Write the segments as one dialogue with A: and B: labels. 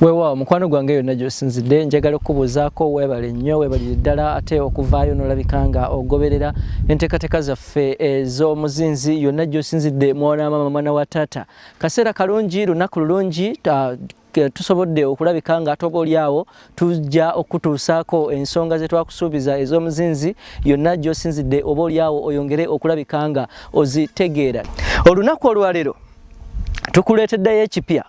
A: weewaawo mukwano gwange yonna gyosinzidde njagala okukubuuzaako weebale nnyo weebalire ddala ate okuvaayo n'olabika nga ogoberera enteekateeka zaffe ez'omuzinzi yonna gyosinzidde mwana wa maama mwana wa taata kaseera kalungi lunaku lulungi tusobodde okulabika nga ate obaolyawo tujja okukutuusaako ensonga ze twakusuubiza ez'omuzinzi yonna gy'osinzidde oba olyawo oyongere okulabika nga ozitegeera olunaku olwaleero tukuleeteddeyo ekipya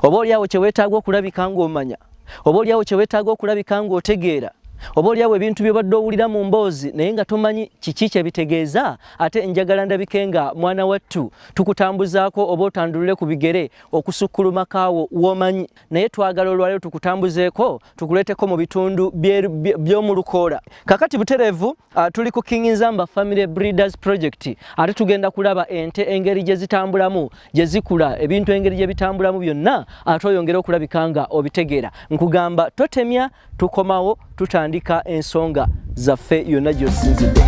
A: oba olyawo kye weetaaga okulabika ng'omanya oba olyawo kye weetaaga okulabika ng'otegeera oba olyawo ebintu byobadde owulira mu mboozi naye nga tomanyi kiki kyebitegeeza ate njagala ndabike nga mwana wattu tukutambuzaako oba otandulule ku bigere okusukkuluma kaawo womanyi naye twagala olwalero tukutambuzeeko tukuleeteko mu bitundu by'omu lukoola kakati butereevu uh, tuli ku king nzamba family breeders project ate tugenda kulaba ente engeri gye zitambulamu gye zikula ebintu engeri gye bitambulamu byonna ate oyongere okulabika nga obitegeera nkugamba totemya tukomawo tutandika ensonga zaffe yonna gyosinzidde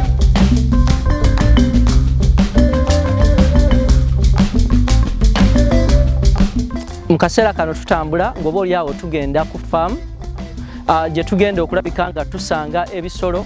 A: mu kaseera kano tutambula ng'oba olyawo tugenda ku faamu ah, gye tugenda okulabika nga tusanga ebisolo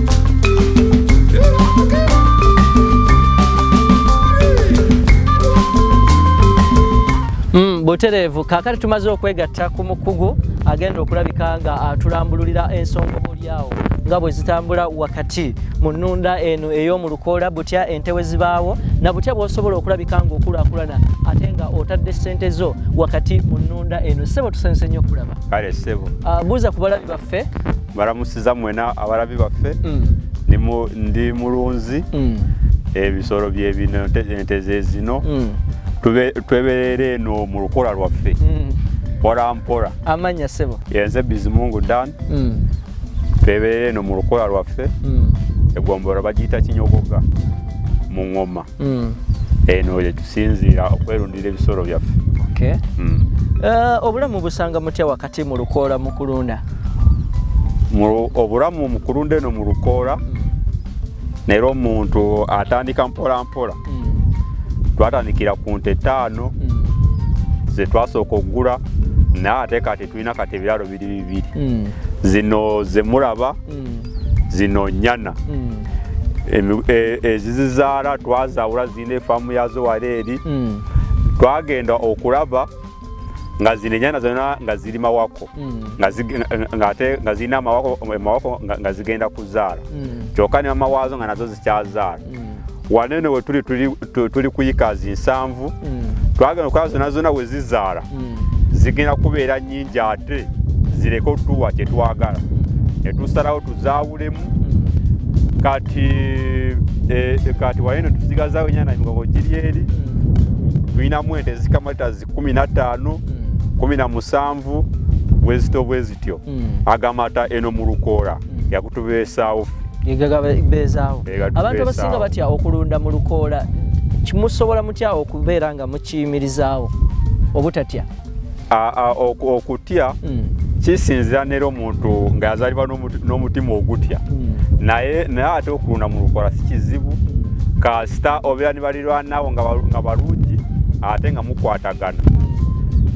A: Mm, butereevu kaakati tumaze okwegatta ku mukugu agenda okulabika nga atulambululira ensonga oboolyawo nga bwe zitambula wakati mu nnunda eno ey'omu lukoola butya ente we zibaawo na butya bw'osobola okulabika ng'okulaakulana ate nga otadde ssente zo wakati mu nnunda eno ssebo tusanyuse nnyo okulaba kale ssebo ah,
B: buuza ku balabi
A: baffe balamusiza mwena
B: abalabi baffe mm. ndi mulunzi mm. ebisolo byebino ente zezino mm. tweberera eno mu lukola lwaffe mpola mpola amanya sebo yenze
A: bizimungu
B: dan tweberera eno mu lukola lwaffe egombolo bagiyita kinyogoga mu ngoma mm. eno eh, yetusinziira okwerundira ebisolo byaffe okay. mm.
A: uh, obulamu busanga mutya wakati mu lukoola mu kulunda
B: obulamu mu kulunda eno mu lukoola mm. naera omuntu atandika mpola mpola mm. twatandikira ku nte ttaano mm. zetwasooka okugula naye ate kati tulina kati ebiralo biri bibiri mm. zino zemulaba mm. zino nyana mm. e, ezizizaala twazawula zirina efaamu yazo wala eri mm. twagenda okulaba nga zino enyana zona nga ziri mawako ngate nga zirina amawako nga zigenda kuzaala kyoka ne mama waazo nga nazo zikyazaala mm. wanene wetuli tuli kuyikazi nsanvu mm. twagenda okuba zona zona wezizaala mm. zigenda kubeera nyingi ate zireke otuwa kyetwagala netusalawo tuzawulemu kati e, e, kati wanene tusigazawo enyana emigongo giri eri tulinamu ente ezikamata zi kumi na ttaano kumi na musanvu bwezityo bwezityo agamata eno mu lukoola yakutubeesaawo gegagabeezaawo
A: abantu abasinga batya okulunda mu lukoola kimusobola mutya okubeera nga mukiyimirizaawo obutatya okutya
B: hmm. kisinzira nera omuntu nga yazalibwa n'omutima ogutya hmm. naye naye ate okulunda mu lukoola si kizibu hmm. kasita obeera ne balirwanawo nga balungi ate nga mukwatagana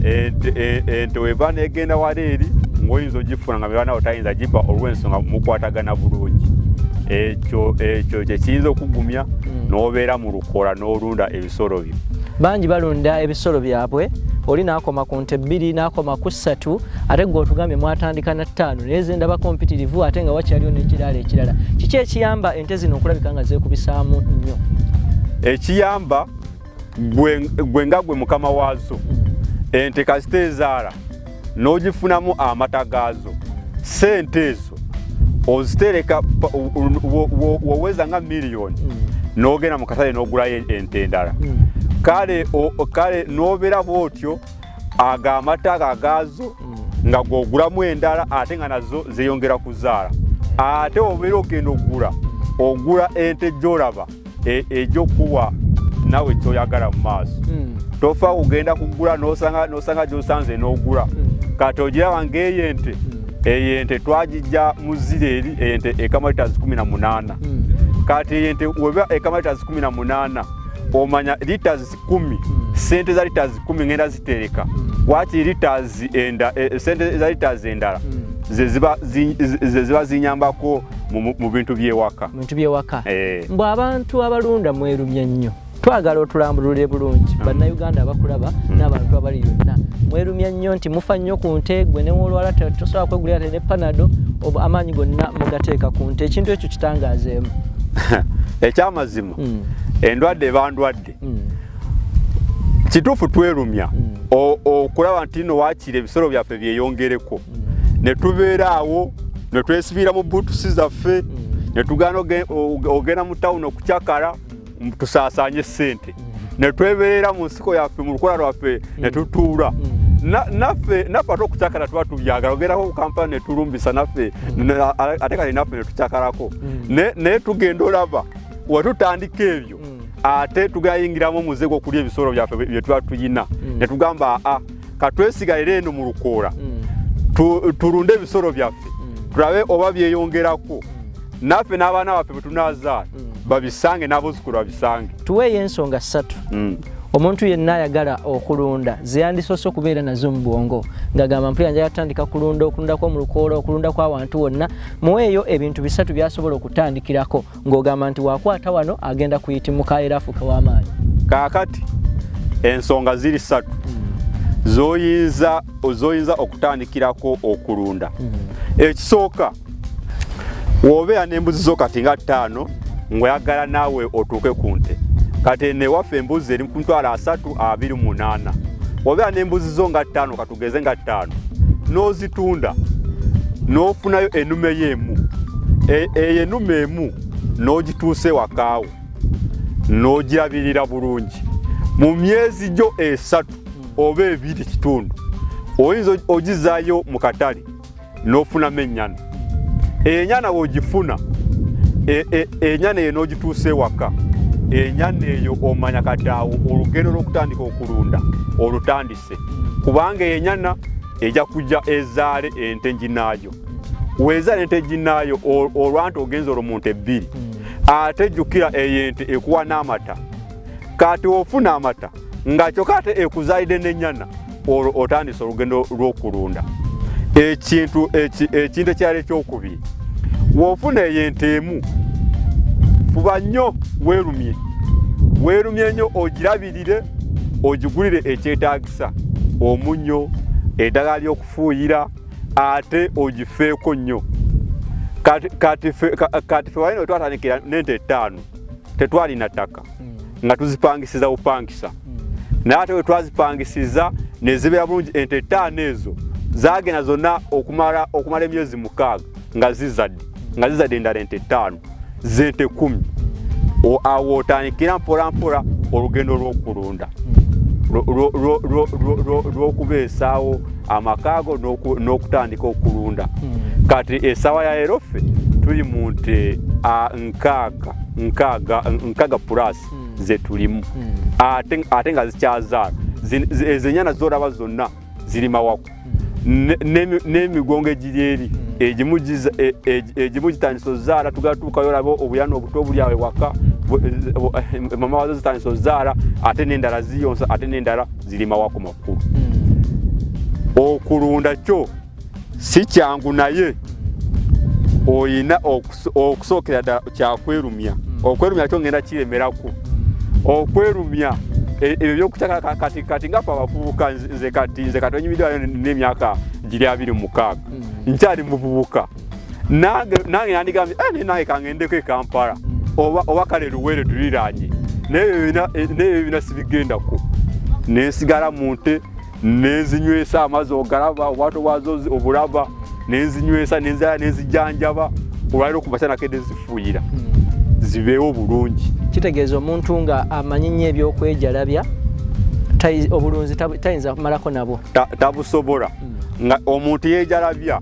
B: ente weba negenda wala eri ngaoyinza ogifuna amibana awo tayinza giba olw'ensonga mukwatagana bulungi ekyo ekyo kyekiyinza okugumya hmm. n'obeera mu lukoola n'olunda ebisolo byo bangi balunda
A: ebisolo byabwe oli nakoma ku nte bbiri nakoma ku ssatu ate gwe otugambye mwatandika na ttaano naye zendabako mpitirivu ate nga wakyaliwo n'ekiraala ekirala kiki ekiyamba ente zino okulabika nga zeekubisaamu nnyo ekiyamba
B: gwe nga gwe mukama waazo ente kasita ezaala n'ogifunamu amata gaazo sente ezo ozitereka woweza nga miliyoni mm. n'ogenda mu katale n'ogulayo ente endala mm. kale kale n'obeera bwotyo ago amata ago agaazo mm. nga gwogulamu endala ate nga nazo zeyongera kuzaala ate obeera ogenda okugula ogula ente gyolaba e, ejokuwa nawe kyoyagala mu maaso mm. tofa kugenda kugula nosanga nosanga gyosanze nogula mm. kati ogiraba ngaeyo ente mm. eyo ente twagijja muzire eri ente ekamalitas 18 mm. kati eyo ente weba ekamalitas 18 omanya litas kumi sente za liters kumi ngenda zitereka wakiri liters enda eh, eh, sente za liters endala zeziba zi- ze- zeziba zinyambako mu- mu- mu bintu byewaka bintu byewaka Eh. mbu
A: abantu abalunda mwerumye nnyo twagala otulambulule bulungi Mm. bannayuganda abakulaba n'abantu abali yonna mwerumya nnyo nti mufa nnyo ku nte gwe newolwala te- tosobola kwegulira te ne panado obu amaanyi gonna mugateeka ku nte ekintu ekyo kitangazeemu
B: ekyamazima Mm. endwadde bandwadde bw'abatutte mm. kituufu twerumya mm. okulaba nti no wakiri ebisolo byaffe byeyongereko mm. ne tubeera awo ne twesibiira mu buutusi zaffe ne tugaana ogenda mu tawuni okucakala tusaasaanye ssente ne twebeerera mu nsiko yaffe mu lukola lwaffe ne tutuula naffe naffe ate okucakala tuba tubyagala ogerako kampala netulumbisa naffe ate kati naffe netucakalako naye tugenda olaba wetutandika ebyo mm. ate tugayingiramu omuze gwokulya ebisolo byaffe byetuba tuyina mm. netugamba aa katwesigalire eno mu lukoola mm. tulunde ebisolo byaffe tulabe oba byeyongerako naffe n'abaana baffe bwetunazaala babisange n'abuzukulu babisange tuweeyo ensonga
A: ssatu omuntu yenna ayagala okulunda zeyandisoose okubeera nazo mu bwongo ngagamba mpulira njala tutandika kulunda okulundakwo mu lukoola okulundakwo awantu wonna muweeyo ebintu bisatu byasobola okutandikirako ng'ogamba nti wakwata wano agenda kuyitimuka era afuuke w'amaanyi kaakati
B: ensonga ziri ssatu hmm. zoyinza zoyinza okutandikirako okulunda hmm. ekisooka wobeera n'embuzi zo kati nga ttaano ng'oyagala naawe otuuke ku nte kati newaffe embuzi eri ku mitwalo asatu abiri munaana obeera n'embuzi zo nga ttaano tugeze nga ttaano n'ozitunda n'ofunayo enume yo emu e, eyo enume emu n'ogituusa ewakaawo n'ogirabirira bulungi mu myezi gyo esatu oba ebiri kitundu oyinza ogizaayo mu katale n'ofunamu ennyana eyo ennyana wogifuna e, e, ennyana eyo n'ogituusa ewaka ennyana eyo omanya kati awo olugendo lw'okutandika okulunda olutandise kubanga eyo ennyana ejja kujja ezaale ente nginaayo weezaala ente nginaayo olwanti ogenza olwo muntu ebbiri hmm. ate jjukira eyo ente ekuwa n'amata kati ofuna amata nga kyoka ate ekuzaalidde n'ennyana olwo otandise olugendo lw'okulunda ekintu ekintu ekyali ekyokubiri wofuna eyo ente emu fuba nnyo weerumye weerumye nnyo ogirabirire ogigulire ekyetaagisa omunnyo eddagala ly'okufuuyira ate ogifeeko nnyo kati fe walina wetwatandikira n'ente ettaano tetwalina ttaka mm. nga tuzipangisiza bupangisa mm. naye ate wetwazipangisiza nezibeera bulungi ente etaano ezo zagenda zonna okumala okumala emyezi mukaaga nga zizadde nga zizadde endala ente etaano zente kumi awo otandikira mpolampola olugendo lwokulunda lwokubeesaawo amakaago n'okutandika okulunda hmm. kati esawa ya erofe tuli mu nte nkaaga nkaaga nkaaga plus hmm. zetulimu hmm. ate nga zikyazaala ezo enyana zoraba zonna ziri mawako hmm. n'emigongo egiri eri egimu e, e, e, gitandisa ozaala tugatuukayo olaba obuyana obuto obuli awe waka eh, mama wazo zitandisa ozaala ate n'endala ziyonsa ate n'endala ziri mawako makulu okulunda kyo si kyangu naye oyina okusookera ddala kyakwerumya hmm. okwerumya kyo ngenda kiremerako hmm. okwerumya e, ebyo byokutaka kati kati nga fe abavubuka nze kati nze kati onyumidwayo n'emyaka giri abiri mukaaga hmm. nkyali muvubuka nange nandigambye eh, naye nange kangendeko ekampala oba kale luwere tuliranye naye ebyo bina sibigendako nensigala mu nte nenzinywesa amazi ogalaba obwato bwazo obulaba nenzinywesa nenzaa nenzijanjaba olwaliro okumakya nakedde nzifuuyira zibeewo obulungi kitegeeza omuntu
A: nga amanyi nnyo ebyokwejalabya obulunzi tayinza
B: kumalako
A: nabwo tabusobola hmm.
B: nga omuntu yejalabya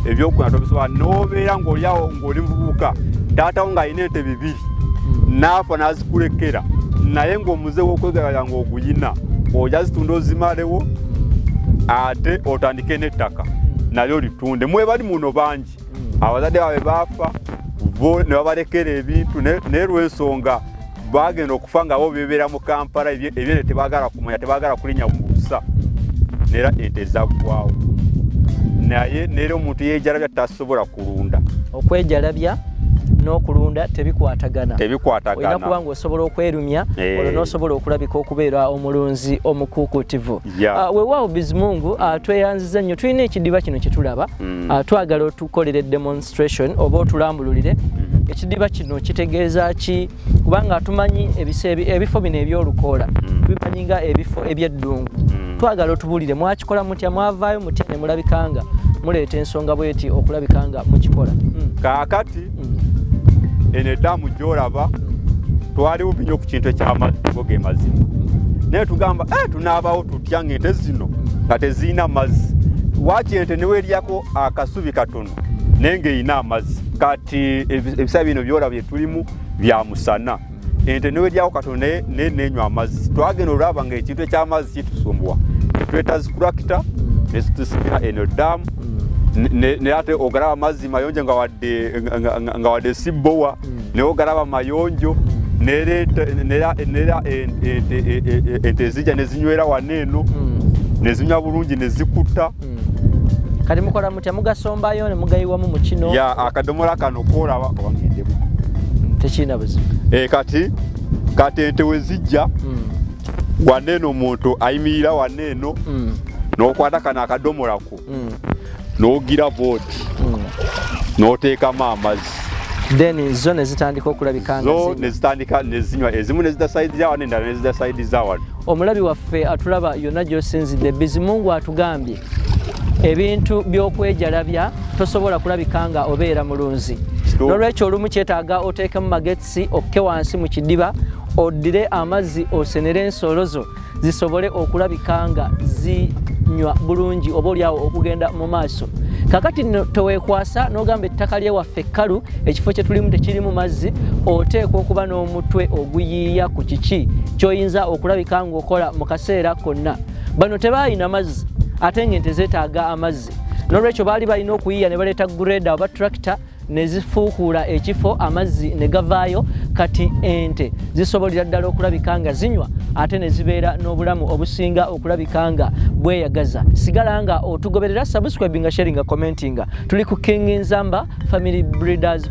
B: ebyokukola tobisobola nobeera ngaolyawo ngaoli mububuka taatawo ng'alina ente bibiri hmm. naafa nazikulekera naye ng'omuze wokwegalabya nga buyina oja zitunda ozimalewo ate otandike n'ettaka nalyo litunde mwebali muno bangi abazadde baabwe baafa bo ne babalekera ebintu naye lwensonga bagenda okufa nga bo bebeera mu kampala ebyene tebagala kumanya tebagala kulinya mubusa nera ente zaggwawo naye nera omuntu yejalabya tasobola kulunda okwejalabya
A: n'okulunda tebikwatagana tebikwatagana kuba nga osobola okwerumya eh. olwo n'osobola okulabika okubeera omulunzi omukuukutivu ah, wewaawo bizimungu ah, tweyanziza nnyo tulina ekidiba kino kye tulaba mm. ah, twagala otukolere demonstration oba otulambululire mm-hmm. ekidiba kino kitegeeza ki kubanga tumanyi ebifo bino ebyolukoola mm. tubimanyi nga ebifo ebyeddungu mm. twagala otubulire mwakikola mutya mwavaayo mutya ne mulabikanga muleeta ensonga bweti okulabikanga mukikola mm. kaakati
B: eno eddamu gyolaba twali bubi nyo ku kintu ekyamazzi go ge mazima naye tugamba eh, tunaabawo tutya nga ente zino nga tezirina mazzi wakyente neweryako akasubi katono naye ng'erina amazzi kati ebisaa bino byola bye tulimu bya musana ente newejako katonda naye nenywa amazzi twagenda olwaba nga ekintu ekyamazzi kitusumbuwa netweta zikurakita netusimira eno damu naye ate ogalaba amazzi mayonjo nga wadde sibowa naye ogalaba mayonjo nera ente ezija nezinywera wano eno nezinywa bulungi nezikutta hmm. kati
A: mukola mutya mugasombayo ne mugayiwamu mu kino ya akadomola kano
B: koolaba owangendemu hmm, tekirina
A: buzibu e, kati
B: kati ente we zijja hmm. wanne eno omuntu ayimirira wanne eno n'okwata kano akadomolako n'ogira booti n'oteekamu amazzi then zo
A: nezitandika okulabika zo nezitandika
B: nezinywa ezimu nezida side za wano endala nezida side za wano omulabi waffe atulaba
A: yonna gyosinzidde bizimungu atugambye ebintu byokwejalabya tosobola kulabika nga obeera mulunzi nolwekyo olumu kyetaaga oteekemu magetsi okke wansi mu kidiba oddire amazzi osenere ensolo zo zisobole okulabika nga zinywa bulungi oba olyawo okugenda mu maaso kakati no tewekwasa nogamba ettaka lyewaffe kkalu ekifo kyetulimu tekirimu mazzi oteekwa okuba n'omutwe oguyiiya ku kiki kyoyinza okulabika ngaokola mu kaseera konna bano tebaalina mazzi ate nga ente zeetaaga amazzi nolwekyo baali balina okuyiya ne baleeta greda oba tractor nezifuukuula ekifo amazzi ne gavaayo kati ente zisobolera ddala okulabika nga zinywa ate ne zibeera n'obulamu obusinga okulabika nga bweyagaza sigala nga otugoberera subscribinga sharinga commentinga tuli ku king nzamba family breeders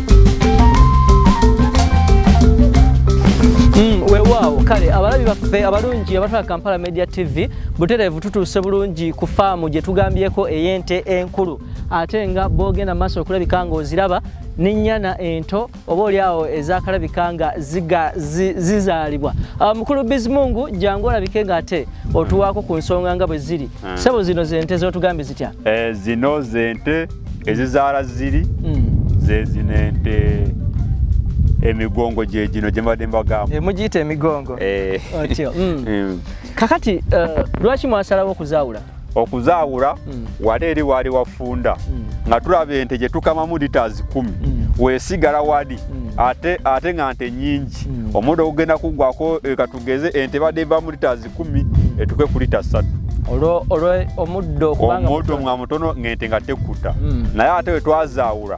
A: abalabi baffe abalungi abatwala kampala media tv butereevu tutuuse bulungi ku faamu gye tugambyeko ey'ente enkulu ate nga boogenda maaso okulabika ng'oziraba n'ennyana ento oba oli awo ezakalabika nga zizaalibwa ah, mukulu bizimungu jangu olabike ng'ate otuwaako ku nsonga nga bwe ziri Ah. Sebo zino zente zotugambye zitya? Eh, zino zente
B: ezizaala ziri mm. zezino ente emigongo gye gino gye mbadde mbagamba eh, mugiyita emigongo
A: eh. otyo mm. mm. kakati eh, lwaki mwasalawo okuzaawula okuzaawula
B: mm. wali eri waali wafunda mm. nga tulaba ente gye tukamamu liters kumi mm. wesigala wali mm. ate, ate nga nte nyingi mm. omuda ogugenda kugwako katugeze ente badde va mu liters kumi etuke ku lita ssatu
A: omuddo nga
B: mutono ngente nga tekkuta hmm. naye ate wetwazaawula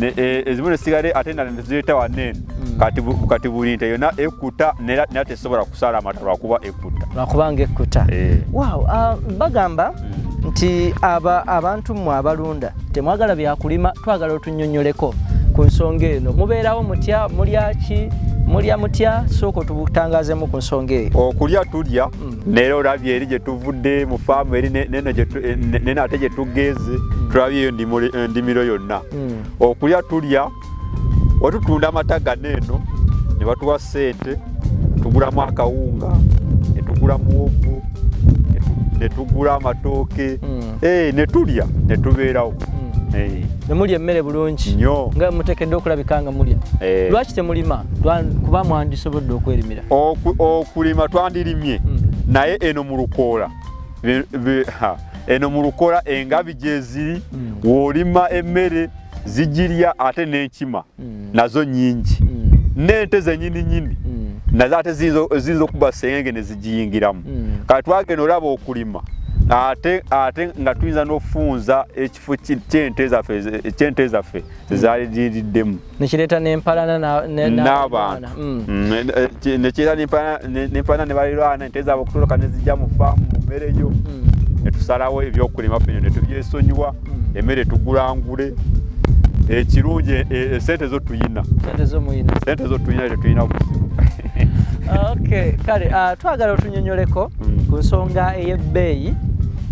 B: e, ezimu nesigale ate endala nezireeta waneeno hmm. kati buli nte yona ekkuta nera tesobola kusaala amata lwakuba ekkuta lwakubanga ekkuta
A: eh. ah, bagamba nti aba abantu mmwe abalunda temwagala byakulima twagala otunyonyoleko ku nsonga eno mubeerawo mutya mulyaki mulya mutya sooka otubutangazemu ku nsonga eyo okulya tulya hmm.
B: naye olabye eri gye tuvudde mu faamu eri nene ate gye tugeze hmm. tulabyeyo endimiro yonna hmm. okulya tulya watutunda amata gano eno ne batuwa ssente tugulamu akawunga ne tugula muwogo ne tugula amatooke hmm. eh, ne tulya ne tubeerawo hmm. eh. ne
A: mulya emmere bulungi nyo nga muteekedde okulabika nga mulya eh. lwaki temulima kuba mwandisobodde okwerimira okulima
B: twandirimye hmm. naye eno mu lukoola eno mu lukoola engabi gyeziri wolima emmere zigirya ate n'enkima mm. nazo nyingi mm. n'ente zenyini nyini mm. nazo ate ziyinza okuba sengenge ne zigiyingiramu mm. kati twagenda olaba okulima ate ate nga tuyinza n'ofunza ekifo kyente zaffe zezaali ziriddemu nekireeta
A: nempalana n'abantu
B: mm. mm, eh, eh, nekiira nempana ne balirwana ente zaabwe okutoloka nezijja mu faamu mu mmere yo mm. netusalawo ebyokulima fino netubyesonyiwa mm. emmere tugulangule ekirungi e, e, sente zo tuyina sente zo tuyina tetuyina buzibu okay kale uh, twagala otunyonyoleko mm. ku nsonga ey'ebbeeyi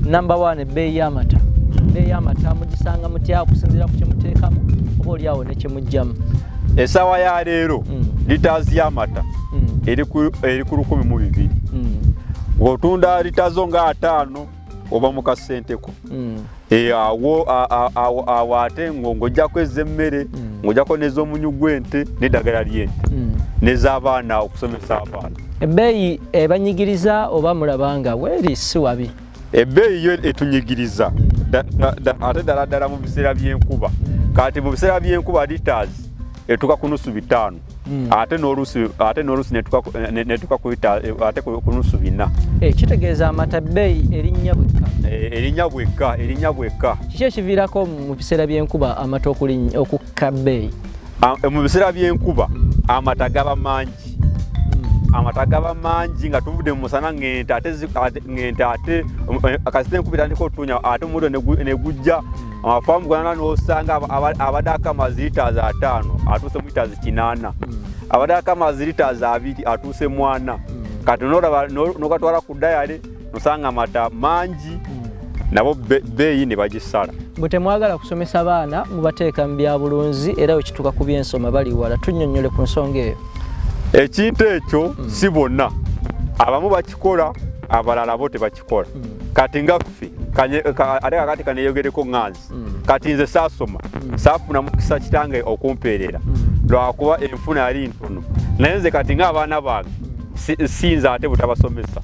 B: number one ebbeeyi y'amata ebbeeyi y'amata mugisanga mutya okusinziira ku kyemuteekamu oba olyawo nekyemugjamu esaawa ya leero mm. litaazi y'amata mm. eri ku lukumi mu bibiri mm. ng'otunda litaazo nga ataano oba mu kasenteko e, awo ate ng'ojjako ez'emmere ng'ojjako n'ez'omunyu gw'ente n'eddagala ly'ente n'ez'abaana okusomesa abaana ebbeeyi
A: ebanyigiriza oba mulabanga weeri si wabi ebbeeyi yo
B: etunyigiriza ate ddala ddala mu biseera by'enkuba kati mu biseera by'enkuba litas etuka ku nusu bitaano hmm. ate n'oluusi ate n'oluusi netuka ate ku nusu bina eh, kitegeeza amata
A: bbeeyi erinnya bwekka eh, erinnya bwekka
B: erinnya bwekka kiki ekiviirako
A: mu biseera by'enkuba amata okukka kabbeeyi eh, mu biseera
B: by'enkuba amata gaba mangi hmm. amata gaba mangi nga tuvudde mu musana ng'ente ate ng'ente ate eh, kasita enkuba etandika otunya ate omuddo ne gujja hmm. amafaamu gwana n'osanga abadde akama ziritaazi ataano atuuse muritaazi kinaana hmm. abadde akama ziritaazi abiri atuuse mwana kati nolaba nogatwala ku dayale osanga amata mangi hmm. nabo beeyi ne bagisala bwe temwagala
A: kusomesa baana mubateeka mu byabulunzi era we kituuka ku byensoma bali wala tunnyonnyole ku nsonga eyo ekintu
B: ekyo hmm. si bonna abamu bakikola abalala bo tebakikola hmm. kati nga ffe ate kakati kaneyogereko nganzi mm. kati nze saasoma mm. saafuna mukisa kitange okumpeerera mm. lwakuba enfuna yali ntono naye nze kati ngaabaana bange sinze ate butabasomesa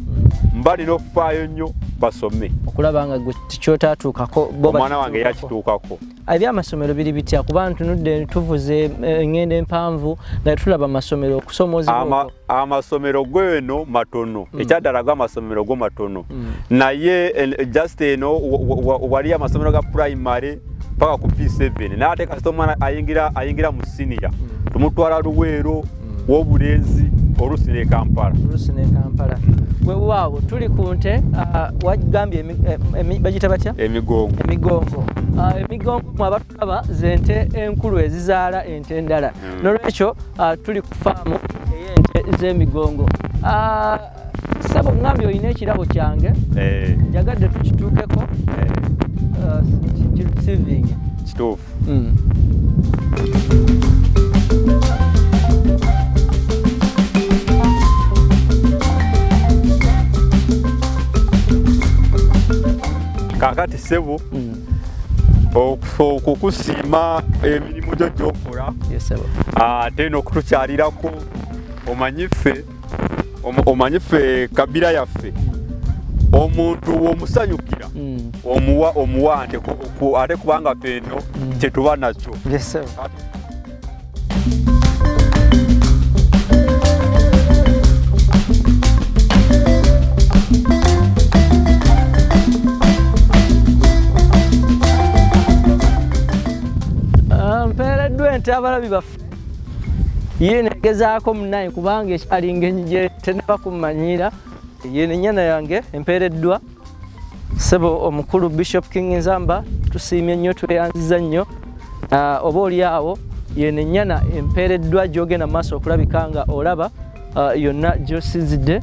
B: mba nina okufaayo nnyo basome okulaba nga gwe
A: tikyotatuukako omwana wange
B: yakituukako ebyamasomero biri
A: bitya kuba ntunudde tuvuze eh, engendo empanvu nga tulaba amasomero okusomozebwa amasomero
B: gweno matono mm. ekyaddala go amasomero go matono mm. naye eh, just eno waliyo amasomero ga primary paka ku p7 naye ate kasita omwana ayingira ayingira mu siniya mm. tumutwala luweero mm. wobulenzi olusi ne kampala olusi ne kampala wewaawo tuli ku nte ah, wagambye eh, bagita batya emigongo emigongo ah, emigongo mwaba kaba zente enkulu ezizaala ente endala hmm. nolwekyo ah, tuli ku faamu eyente zemigongo ah, sabo ngambye olina ekirabo kyange eh. njagadde tukituukeko eh. ah, kisivingi kituufu hmm. kakati sebo mm. okukusiima emirimu gyo gyokola ate n'okutukyalirako omanyi ffe omanyi ffe kabira yaffe omuntu womusanyukira hmm. omuwa omuwa ate kubanga ffe eno hmm. kyetuba nakyo Ah, mpeereddwa ente abalabi baffe ye negezaako munaye kubanga ekyalinga enyi gye tenaba kummanyira ye nenyana yange empeereddwa Sebo omukulu Bishop King Nzamba tusiimye nnyo tweyanziza nnyo ah, oba oli awo yene
A: nyana empeereddwa gyogenda maaso okulabika nga olaba ah, yonna gyosizidde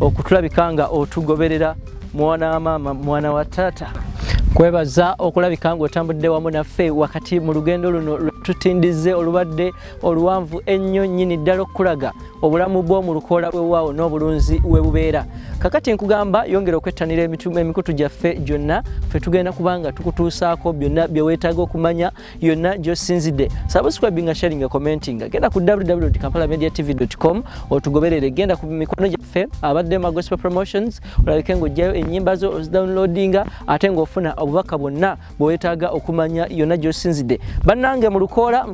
A: okutulabika nga otugoberera mwana wa maama mwana wa taata kwebaza okulabika nga otambudde wamu naffe wakati mu lugendo luno lwetutindize olubadde oluwanvu ennyo nnyini ddala okukulaga obulamu bwo mu lukoola lwewaawo n'obulunzi webubeera kakati nkugamba yongera okwettanira emikutu gyaffe gyonna fe tugenda kubanga tukutuusaako byonna byeweetaaga okumanya yonna gyosinzidde subscribe nga sharing nga commenting genda ku www kampala media tv com otugoberere genda ku mikono gyaffe abadde ma gospel promotions olabike ng'ojjayo ennyimba zo ozidownloadinga ate ng'ofuna obubaka bwonna bwewetaaga okumanya yonna gyosinzidde bannange mu lukoola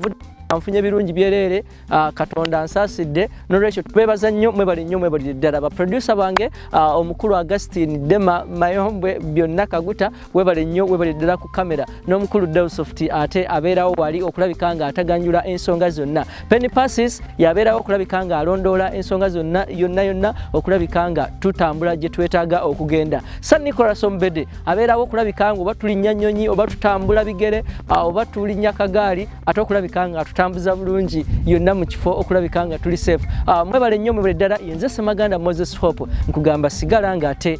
A: nfunye birungi byereere ah, katonda nsaasidde nolwekyo tubeebaza nnyo mwebali nnyo mwebalire ddala baprodusa bange ah, omukulu augustin dema mayombwe byonna kaguta webale nnyo webali ddala ku kamera n'omukulu delsofti ate abeerawo wali okulabika nga ataganjula ensonga zonna Penny Passes yabeerawo okulabika nga alondoola ensonga zonna yonna yonna okulabika nga tutambula gye twetaaga okugenda. San Nicolas Ombede abeerawo okulabika nga oba tulinnya nnyonyi oba tutambula bigere oba tulinnya kagaali ate okulabika nga tutambuza bulungi yonna mu kifo okulabika nga tuli safe. Mwebale nnyo mwebale ddala yenze Ssemaganda Moses Hope nkugamba sigala nga ate